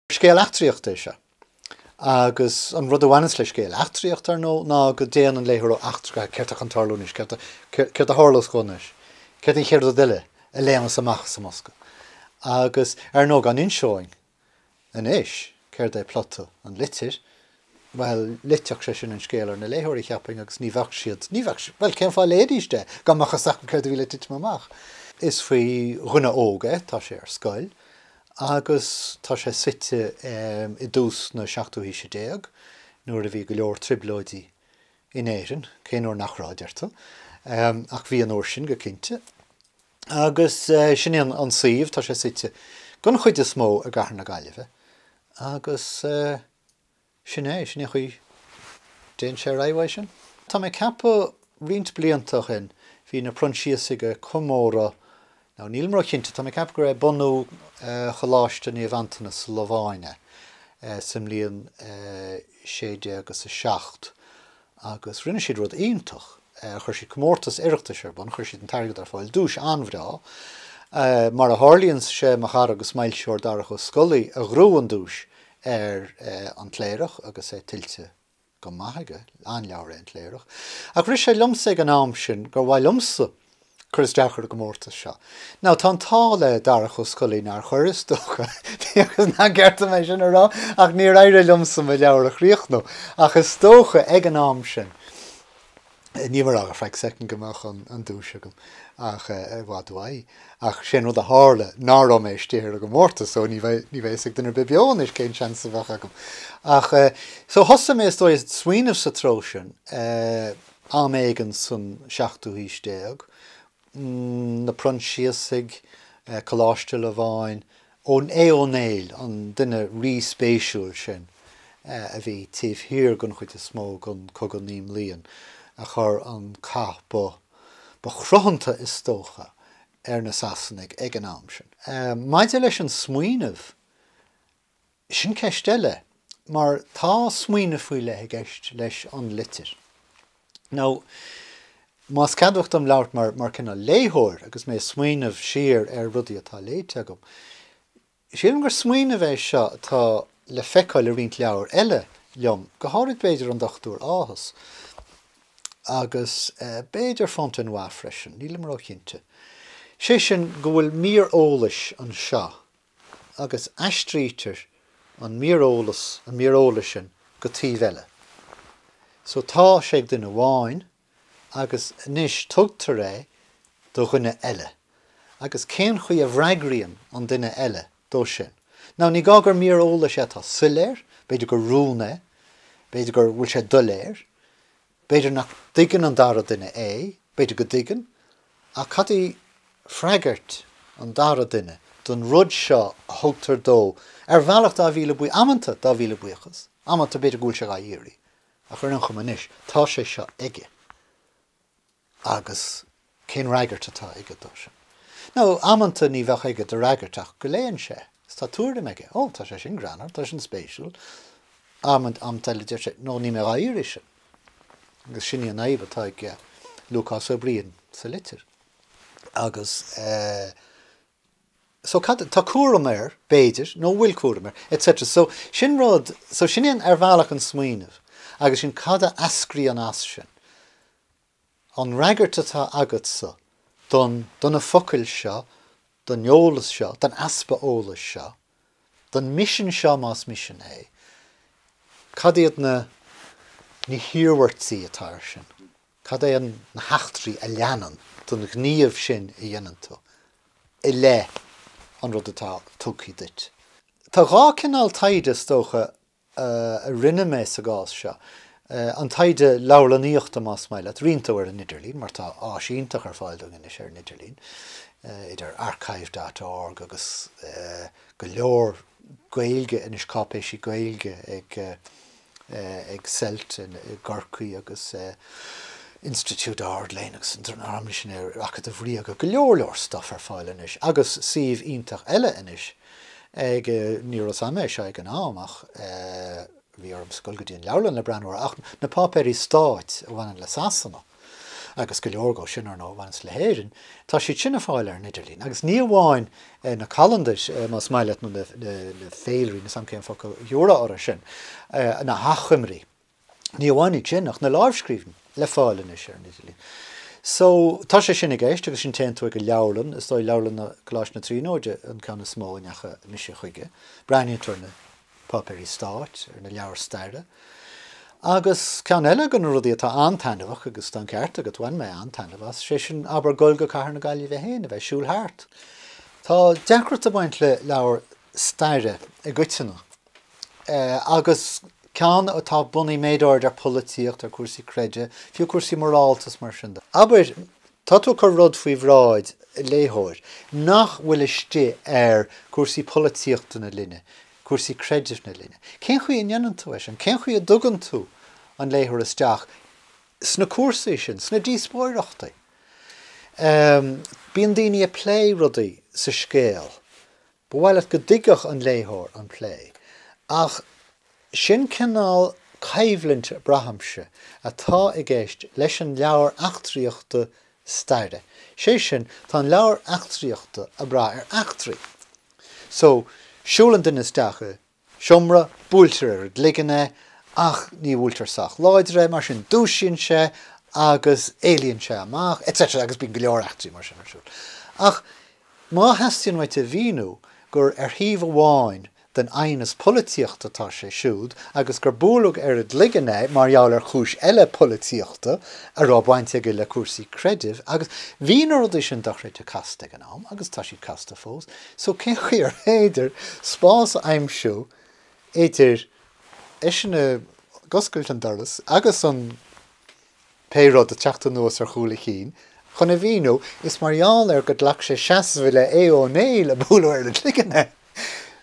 Scéal eachtraíochta é seo. Agus an rud a bhaineanns le scéal eachtraíochta, ar ndóigh, ná go dtéann an léitheoir ó eachtra go heachtra, céard tá chun tarlú anois, céard a tharlós dhó anois, céard an chéad rud eile a léimeas amach as an mbosca. Agus, ar ndóigh, dá n-inseoinn anois céard é plota An Litir, Bhuel, loitfeadh sé sin an scéal ar na léitheoirí, cheapfainn, agus ní bheadh siad, ní bheadh, bhuel, cén fáth a léifidís é, dá mbeadh fhios acu céard a bhí le titim amach? Is faoi dhuine óg é, tá sé ar scoil, agus tá sé suite i dtús na seachtú haoise déag, nuair a bhí go leor trioblóidí in Éirinn, cén uair nach raibh, deir tú? ach bhí an uair sin, go cinnte. Agus sin é an suíomh, tá sé suite, den chuid is mó, i gcathair na Gaillimhe, agus eh. Sin é, sin é an chaoi a dtéann sé ar aghaidh uaidh sin. Tá mé ag ceapadh, roinnt blianta ó shin, bhí na Proinsiasaigh ag comóradh, now níl mé róchinnte, tá mé ag ceapadh gurbh é bunú Choláiste Naomh Antaine sa Lováin é, sa mbliain sé déag is a seacht. agus rinne siad rud iontach, chuir siad comórtas Oireachtais ar bun, chuir siad an t-airgead ar fáil, duais an-bhreá, mar a tharlaíonn sé, mo chara agus m'fhoilsitheoir Darach Ó Scolaí a ghnóthaigh an duais ar An Cléireach agus é tuillte go maith aige, an-leabhar é An Cléireach, ach rith sé liomsa ag an am sin gur mhaith liomsa cur isteach ar an gcomórtas seo. Now tá an t-ádh le Darach Ó Scolaí nár chuir, is dócha, agus nach ceart dom é sin a rá ach níor éirigh liomsa mo leabhar a chríochnú, ach is dócha ag an am sin níl mé ag rá go, for a second, go mbeadh an duais agam ach i bhfad uaidh. Ach sé'n rud a tharla nach raibh mé istigh ar an gcomórtas so ní bheidh ní bheidh fhios ag duine ar bith beo anois cén seans a bheadh agam. Ach eh so thosaigh mé is dóigh ag smaoineamh sa treo sin eh, Am éigin san seachtú haois déag, na Proinsiasaigh, Coláiste Lováin, Aodh Ó Néill, an duine rí-spéisiúil sin a bhí taobh thiar den chuid is mó den Chogadh Naoi mBliain, a chur an cath ba chruthanta is dócha ar na Sasanaigh ag an am sin. Maidir leis an smaoineamh Sin ceist eile, mar tá smaoineamh faoi leith i gceist leis An Litir. Now, más ceadmhach dom labhairt mar, mar cineál léitheoir agus mé ag smaoineamh siar ar rudaí atá léite agam, sílim gur smaoineamh é seo atá le feiceáil i roinnt leabhar eile liom, go háithrid b'fhéidir An Dochtúir Áthas, agus b'fhéidir Fontenoy freisin, níl mé ró-chinnte. Sé sin, go bhfuil mír eolais anseo agus aistrítear an míreolas, an míreolas sin go taobh eile. So tá sé ag duine amháin agus anois tugtar é do dhuine eile agus cén chaoi a bhfreagraíonn an duine eile dó sin? Now ní gá gur míreolas é atá soiléir, b'fhéidir gur rún é, b'fhéidir gur bhfuil sé doiléir, B'fhéidir nach dtuigeann an dara duine é, b'fhéidir go dtuigeann, ach cad í freagairt an dara duine don rud seo a thugtar dó ar bhealach dá mhíle buí, amanta dá mhíle buíochas, amanta b'fhéidir go bhfuil sé dhá iarraidh, ach ar aon chuma anois tá sé seo aige. Agus cén fhreagairt atá aige dó sin? Nó amanta ní bheadh aige de fhreagairt ach go léann sé, tá tuairim aige, Ó, tá sé sin greannmhar, tá sin spéisiúil. Amanta eile deir sé, No, níl mé dhá iarraidh sin. Agus sin í an fhadhb atá ag Lúcás Ó Briain sa litir. Agus so, tá cúram air, b'fhéidir, nó an bhfuil cúram air, et cetera. So sin rud, so sin sin ar bhealach an smaoineamh. Agus sin cad a eascraíonn as sin. An fhreagairt atá agatsa don, do na focail seo, don eolas seo, don easpa eolais seo, don misean seo más misean é, cad iad na, na hiarmhairtí atá ar sin? Cad é an, na heachtraí a leanann ón ghníomh sin a dhéanann tú i leith an rud atá tugthaí duit? Tá dhá cineál taighde is dócha a rinne mé sa gcás seo, an taighde leabharlannaíochta más maith leat, roinnt dó ar an idirlíon, mar tá áis iontach ar fáil dúinn anois ar an idirlíon, idir archive dot org agus go leor Gaeilge anois, cáipéisí Gaeilge ag Celt i gCorcaigh agus Institiúid Ard-Léinn agus an tArm, Misinéirí, Acadamh Ríoga, go leor leor stuff ar fáil anois agus suíomh iontach eile anois. Ní raibh fhios a'm é seo ag an am ach bhí orm's a ghoil go dtí an leabharlann le breathnú ar ach na páipéirí stáit a bhaineann le Sasana agus go leor acu sin ar ndóigh a bhaineas le hÉirinn. Tá siad sin ar fáil ar an idirlíon agus ní amháin na calandair más maith leat nó na féilirí, níl fhios a'm cén focal a thabharfá orthu sin, na hachoimrí. Ní amháin iad sin, ach na láimhscríbhinní le fáil anois ar an idirlíon. So, tá sé sin i gceist agus ansin téann tú ag an leabharlann, is dóigh leabharlann Coláiste na Tríonóide an ceann is mó a ndeacha mise chuige, breathnaíonn tú ar na páipéirí stáit, ar na leabhair staire. Agus ceann eile de na rudaí atá an-taitneamhach agus tá an ceart agat, bhain mé an-taitneamh as, sé sin abair dul go cathair na Gaillimhe féin, a bheith ag siúl thart. Tá deacracht ag baint le leabhair staire i gcoitinne. agus ceann atá bunaithe méid áirid ar polaitíocht, ar cúrsaí creidimh, fiú cúrsaí morálta is mar sin de. Abair, tá tú ag cur rud faoi bhráid léitheoir nach bhfuil istigh ar cúrsaí polaitíochta na linne, cúrsaí creidimh na linne. Cén chaoi a ndéanann tú é sin? Cén chaoi a dtugann tú an léitheoir isteach sna cúrsaí sin, sna díospóireachtaí? Bíonn daoine ag plé rudaí sa scéal. Ba mhaith leat go dtuigfeadh an léitheoir an plé, ach sin cineál coimhlint, braithimse, atá i gceist leis an leabhar eachtraíochta staire. Sé sin, tá an leabhar eachtraíochta ag brath ar eachtraí. So, siúlann duine isteach i. seomra, buailtear ar an gcloigeann é ach ní bhuailtear sách láidir é, mar sin dúisíonn sé agus éalaíonn sé amach etc agus bíonn go leor eachtraí mar sin ar siúl. Ach má theastaíonn uait a mhíniú gur ar thaobh amháin den aighneas polaitíochta atá sé siúd agus gur buaileadh ar an gcloigeann é mar gheall ar chúis eile polaitíochta a raibh baint aige le cúrsaí creidimh agus bhí na rudaí sin dochreidte casta ag an am agus tá siad casta fós, So cén chaoi ar féidir spás a aimsiú idir eisean ag oscailt an doras agus an pé rud ag teacht anuas ar chúl a chinn? Chun a mhíniú, is mar gheall ar gur ghlac sé seasamh i leith Aodh Ó Néill a buaileadh ar an gcloigeann é.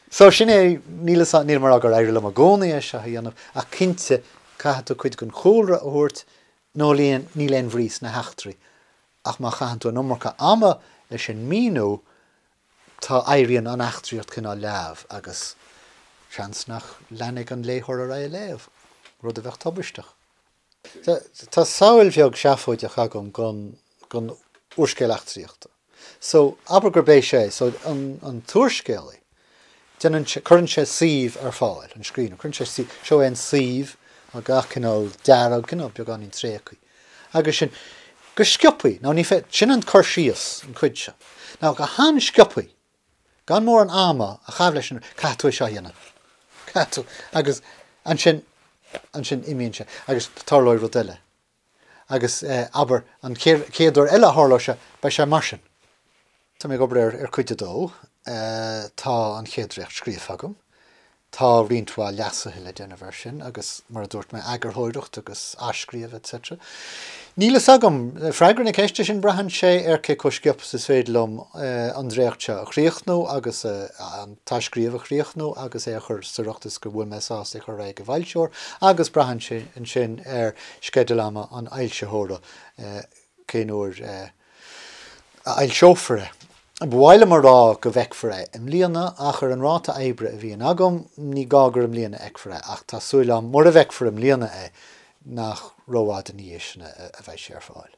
So sin é, níl nílim a rá gur éirigh liom i gcónaí é seo a dhéanamh ach cinnte caithfidh tú cuid den chúlra a thabhairt nó níl aon bhrí sna heachtraí. Ach má chaitheann tú an iomarca ama leis an míniú tá éiríonn an eachtraíocht cineál leamh agus seans nach leanfaidh an léitheoir ar aghaidh ag léamh, rud a bheadh tubaisteach. Tá samhail bheag seafóideach agam gon gon úrscéal eachtraíochta. So, abair gurb é seo é. So, an an t-úrscéalaí, Déanann sé, cuireann sé suíomh ar fáil, an scríbhneoir, cuireann sé suíomh, seo é an suíomh, mar gach cineál dearg, cineál beagáinín tréigthe. Agus sin, go sciobthaí, ná ní fé, sin an cur síos, an chuid seo, ná go han-sciobthaí, gan mórán ama a chaitheamh leis an, caithfidh tú é seo a dhéanamh, caithfidh tú, agus ansin, ansin imíonn sé agus tarlóidh rud eile. Agus, abair, an chéad uair eile a tharlóidh sé, beidh sé mar sin. Tá mé ag obair ar Cuid 2. Tá an chéad dréacht scríofa agam. Tá roinnt mhaith leasuithe le déanamh air sin agus, mar a dúirt mé, eagarthóireacht agus athscríobh etc. Níl fhios agam! Freagra na ceiste sin, braitheann sé ar cé chomh sciobtha is is féidir liom an dréacht seo a chríochnú agus an t-athscríobh a chríochnú agus é a chur sa riocht is go bhfuil mé sásta é a chur ar aghaidh ag an bhfoilsitheoir agus braitheann sé ansin ar sceideal ama an fhoilsitheora cén uair a fhoilseofar é. Ba mhaith liom a rá go bhfeicfear é i mbliana ach ar an ráta oibre a bhíonn agam ní gá gur i mbliana a fheicfear é ach tá súil agam mura bhfeicfear i mbliana é nach rófhada ina dhiaidh sin a bheidh sé ar fáil.